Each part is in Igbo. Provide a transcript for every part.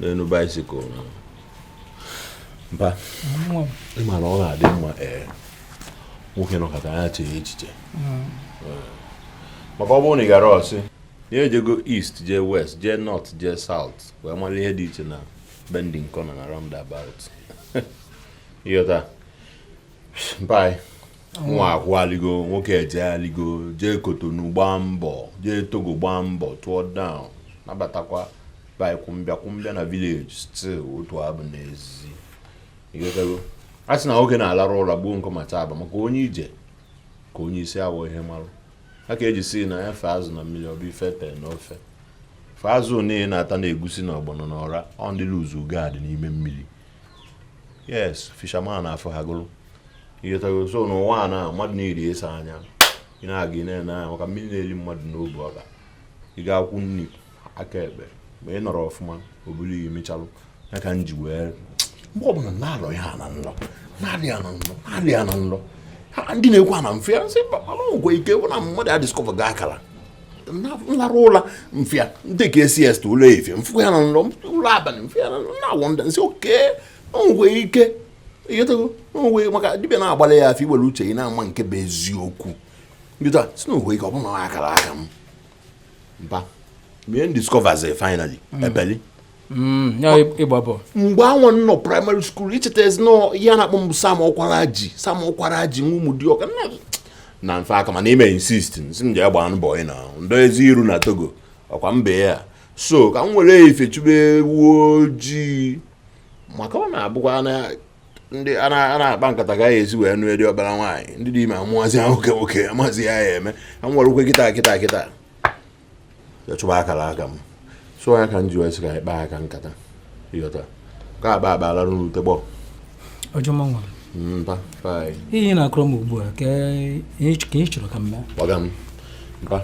n'elu bicycle mpa ị ma na ọ ga-adị mma ee eh, nwoke nọkata ya chee echiche hmm. eh, maka ọ bụrụ na ị gara ọ sị ya ejego east jee west jee north jee south wee mara ihe dị iche na bending corner na roundabout ịghọta mpa nwa akwụaligo nwoke ejegharịgo jee kotonu gbaa mbọ jee togo gbaa mbọ tụọ down nabatakwa by kwụmbịa kwụmbịa na village still otu abụ n'ezi ịghọtago a sị na nwoke na-alarụ ụla gbuo nkọ ma taa aba maka onye ije ka onye isi awọ ihe marụ a ka e ji sị na ya fee azụ na mmiri ọ bụ ife tee na ofe fee azụ niile na-ata na egusi na ọgbọnọ na ọra ọ ndị lose guard n'ime mmiri yes fisherman afụ ha gụrụ ịghọtago so n'ụwa a na mmadụ na-eri eso anya ị na-aga ị na-ene anya maka mmiri na-eri mmadụ n'obu ọga ị ga-akwụ nri aka ekpe ma ị nọrọ ọfụma o buru iyi mechalụ ya ka m ji wee mgbe ọbụla na-alọ ya na nlọ na-alị ya na nlọ na-alị ya na nlọ ndị na-ekwu ha na m fụ ya m sị mba mana ọgwụ ike wụ na mmadụ ya discover ga akara m larụ ụla m fụ ya dị ka siesta ụla efifie m fụ ya na nlọ ụla abalị m fụ ya na-awonder m sị okay o nwe ike ịghọtago onwe maka dibịa na-agbalị ya afa i were uche ị na-ama nke bụ eziokwu ndịta sị na o nwe ike ọ bụrụ na akara aka m mpa mee discovers finally ebeli Mm, mgbe anwa nọ primary school i chetazi na ihe a na-akpọ m bụ sam okwaraji sam okwaraji nwa ụmụdịọka na mfe aka mana i mee insist sị m jee gbaa mbọ ị na ndo ezi iru na togo ọkwa mbe ya so ka m were ife chụbe ewu ojii maka ọ na-abụkwa na ndị a na-akpa nkata ga ya ezi wee nụ edi ọbara nwaanyị ndị dị ime amụazị nwoke nwoke amụazị ya ya eme ka m were ụkwụ kịta kịta kịta ya chụba akara aka m so ya ka m ji wee sị ka anyị kpaa ya ka nkata ịghọta ka a kpaa akpa a larụ n'ute gbọ ọjọma nwa mpa fai ihe na-akọrọ m ugbu a ka ihe ch- ka ị chọrọ ka m mee gbagam mpa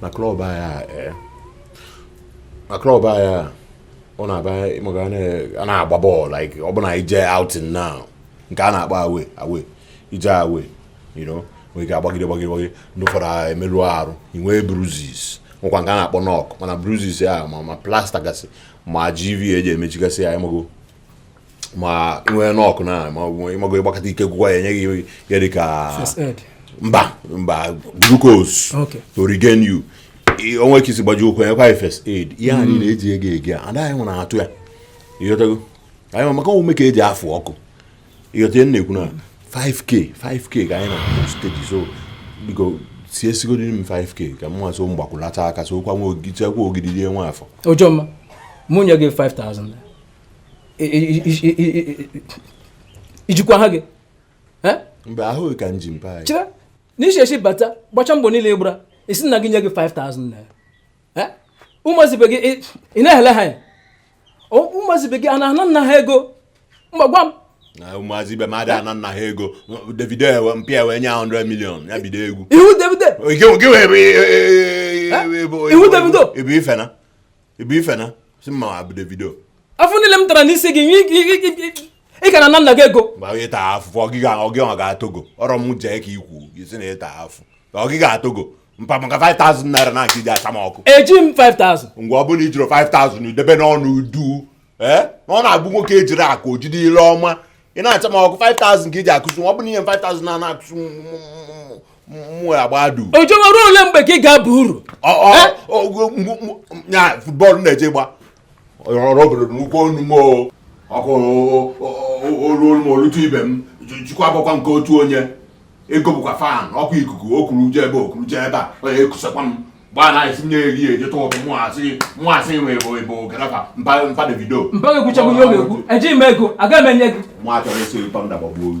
na club anyị a ee na club anyị a ọ na-aba ị ma ka a na-agba bọọlụ like ọ bụ na anyị jee outing now nke a na-akpọ away away i jee away you know nwere ike agbagide gbagide gbagide ndị ụfọdụ a emerụ arụ i nwee bruises nwekwa nke a na-akpọ knock mana bruises ya ma ma plaster gasị ma gv eji emechigasị ya ịmago ma nwee knock na ma ịmago ị gbakata ike gwụkwa ya e nye gị ihe dị ka mpa mpa glucose okay. to regain you o nwe ka i si gbaji ụkwụ e nyekwa ya first aid ihe a niile eji ego ege a anaghị nwere atụ ya ịghọtago anyị maka ọ bụ ume ka e ji afụ ọkụ ịghọta na-ekwu na 5k 5k ka anyị na steji so biko sie sigodi m 5k ka m nwaso mgbakwụlata aka so kwa nwa ogidi chekwa ogidi rie nwa afọ ojoma mụ nye gị 5000 ijikwa ahụ gị mgbe ahụghị ka m ji mpa anyị chere n'isi esi bata gbacha mbọ niile a gbara ị sị nna gị nye gị 5000 naira ụmụazị ibe gị ị na-ehele ha ya ụmụazị ibe gị a na-ana nna ha ego mpa gwa m ụmụazị ibe m ada ana nna ha ego davido mpa ya wee nye 100 million ya bido egwu ị wụ davido ị wụ davido ebe ifena ebe ifena si mma abụ davido afụ niile m tara n'isi gị ị ka ana nna gị ego mgbe onye taa afụ ọgịga ọgịga ọ ga-atogo ọrọ m jee ka ikwu isi na ịta afụ ọgịga atogo mpa maka 5000 naira ka iji acha m ọkụ eji m 5000 ngwa ọ bụrụ na ijiro 5000 idebe ọnụ duu ee eh? na ọ na-abụ nwoke ejiro akụ o jide ile ọma ị na-acha m ọkụ 5000 ka iji akụzi ọ bụla ihe m 5000 na na-akụzi mwe agbadu ojoma ruo ole mgbe ka ị ga-aba uru eh? futbọọlụ ị na-eje agba ọrụ obodo n'ụkwụ onu m ọkụ olu olu m olutu ibe m jikwa akwụkwọ nke otu onye ego bụkwa fan ọ kụ ikuku ọ kụrụ je ebe a ọ kụrụ je ebe a onye ekusakwa m gbaa na esi nye eri eje tụ ụtụ mụasị mụasị nwe bụ ịbụ garafa mpa mpa davido mpa ga-ekwuchakwu ihe ọ ga-ekwu ejighị m ego agaghị m enye gị nwa chọrọ esi ụtọ ndabọgbu oyi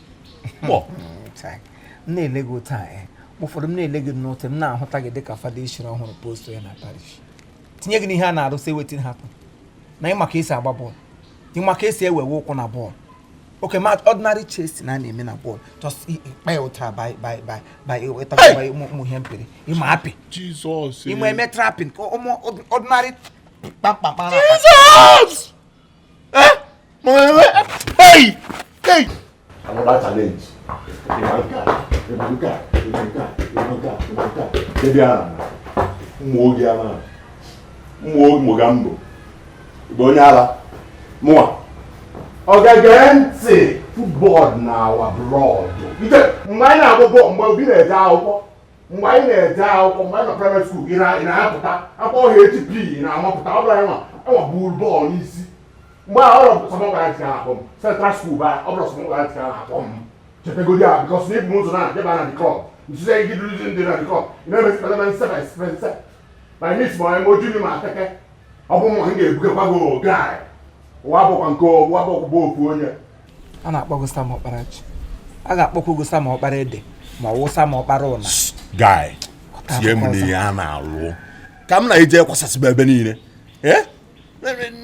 kpọ m na-ele gị otu a eh. ụfọdụ m na-ele gị n'otu m na-ahụta gị dịka fada echiri ọhụrụ post ya na parish tinye gị n'ihe a na-arụsị wetin happen na ịma ka esi agba bọọlụ ịma ka esi ewewe ụkwụ na bọọlụ okay ma ọdịnarị chest a na-eme na bọọlụ just kpa ya ụta by ụmụ ihe mpere ịma apị ịma eme trapin ka ụmụ ọdịnarị kpamkpamkpa Eh? Hey! Hey! Another challenge. Imanka, Imanka, Imanka, Imanka, Imanka. Baby Anna, ụmụ oge ama, ụmụ oge mụ ga mbụ. Ị bụ onye ala, mụwa. Ọ ga-ege ntị football na our blood. Mgbe anyị na-agba bọọlụ, mgbe obi na-eje akwụkwọ, mgbe anyị na-eje akwụkwọ mgbe anyị nọ praịmarị skuul ị na- ị na-apụta akpọ HP ị na-amapụta ọ bụla anyị nwa enwa buru bọọlụ n'isi mgbe a ọrọ sọmọ gwara ntị ahụ m central skuul ba ọ bụla sọmọ gwara ntị ahụ akpọ m chepegodi ahụ bikọs na ibu ụzọ na jeba na dikọp nzuzo anyị gị duruzi ndị na dikọp ị na-emesi kpatara nse by spense by mis ma eme oju ma ateke ọ bụ mma m ga-ebugakwa gị oge anyị ụwa bụkwa nke ụwa bụkwa bụ ofu onye a na-akpọ gị Sam Ọkparaji a ga-akpọkwa gị Sam Ọkpara Ede ma ọ wụ Sam Ọkpara Ụna guy tie m n'ihe a na-alụ ka m na-eje kwasasịba ebe niile eh?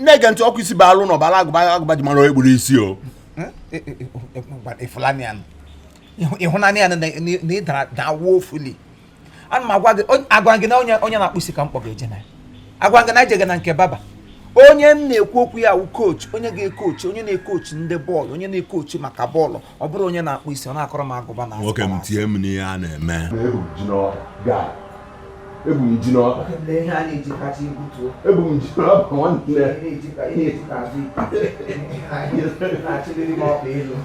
na-ege ntị ọkpụ isi bụ alụ na ọbara agụba agụba ji mara egburu isi o eh? Eh, ị hụna nya na ị dara da woefully ana m agwa gị onye- agwa gị na onye onye na-akpụ isi ka m kpọga eje na ya agwa gị na ejega na nke barber onye m na-ekwu okwu ya wụ kochi onye ga-ekochi onye na-ekochi ndị bọọlụ onye na-ekochi maka bọọlụ ọ bụrụ onye na-akpụ isi ọ na-akọrọ m agụba na nwoke m tie m n'ihe a na-eme ebu m ji n'ọkpa gaa ebu m ji n'ọkpa ebu m ji n'ọkpa nwanne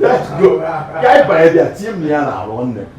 let's go ka anyị banye bịa tie m n'ihe a na-arụ nne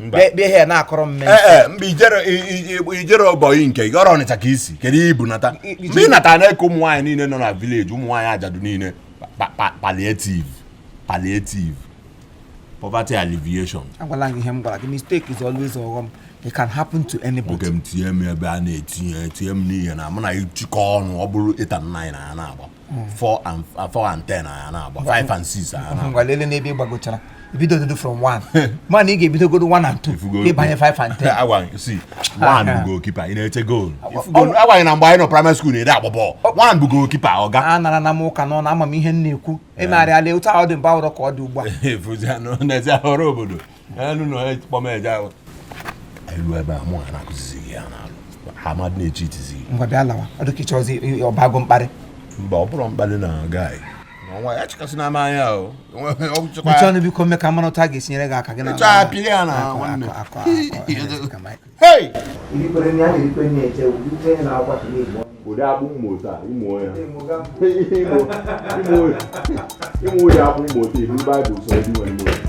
bịa bịa ihe na-akọrọ mme ee ee mgbe i jere i- i- i- i jere ọbọyị nke gị ọrụ Ọnịcha ka i si kedu ihe i bu nata I- i- mgbe ị natara na-eke ụmụ nwaanyị niile nọ na village ụmụ nwaanyị ajadu niile pa- pa- palliative palliative poverty alleviation agwala gị ihe m gwara gị mistake is always ọghọm it can happen to anybody nwoke m tinye m ebe a na-etinye tinye m n'ihe na mụ na ịchịkọ ọnụ ọ bụrụ 8 and 9 na ya na-agba 4 and 4 and 10 na ya na-agba 5 and 6 na ya na-agba ngwa lele n'ebe ị gbagochara ibido odudu from 1 mana ị ga-ebidogodo 1 and 2 Ifugo- ị banye 5 and 10 agwa sị 1 bụ goalkeeper ị na-eche goal agwa gị na mgbe anyị nọ primary school na-eje agba bọọlụ 1 bụ goalkeeper ọga anarana m ụka n'ọnụ ama m ihe m na-ekwu emegharịala otu ahụ dị mgbe ahụ abụrọ ka ọ dị ugbu a efuzianụ n'ezi ahụrụ obodo elu na onye kpọm eje ahụ elu ebe a mụ ha na-akụzizi gị ya n'alụ ha mmadụ na-echi itizi gị ngwa bịa lawa ọ dịka ị chọzi ọ bago mkparị mba ọ bụrụ mkparị na guy nwa ya chịkasị na ama anya o mechie ọnụ biko mme ka mara otu a ga-esinyere gị aka gị na Mechaa pịa ya na nwanne. hei ụdị akpụ mmụta ịmụ onye ịmụ onye akpụ mmụta ihu Baịbụl sị ndị nwere mmụta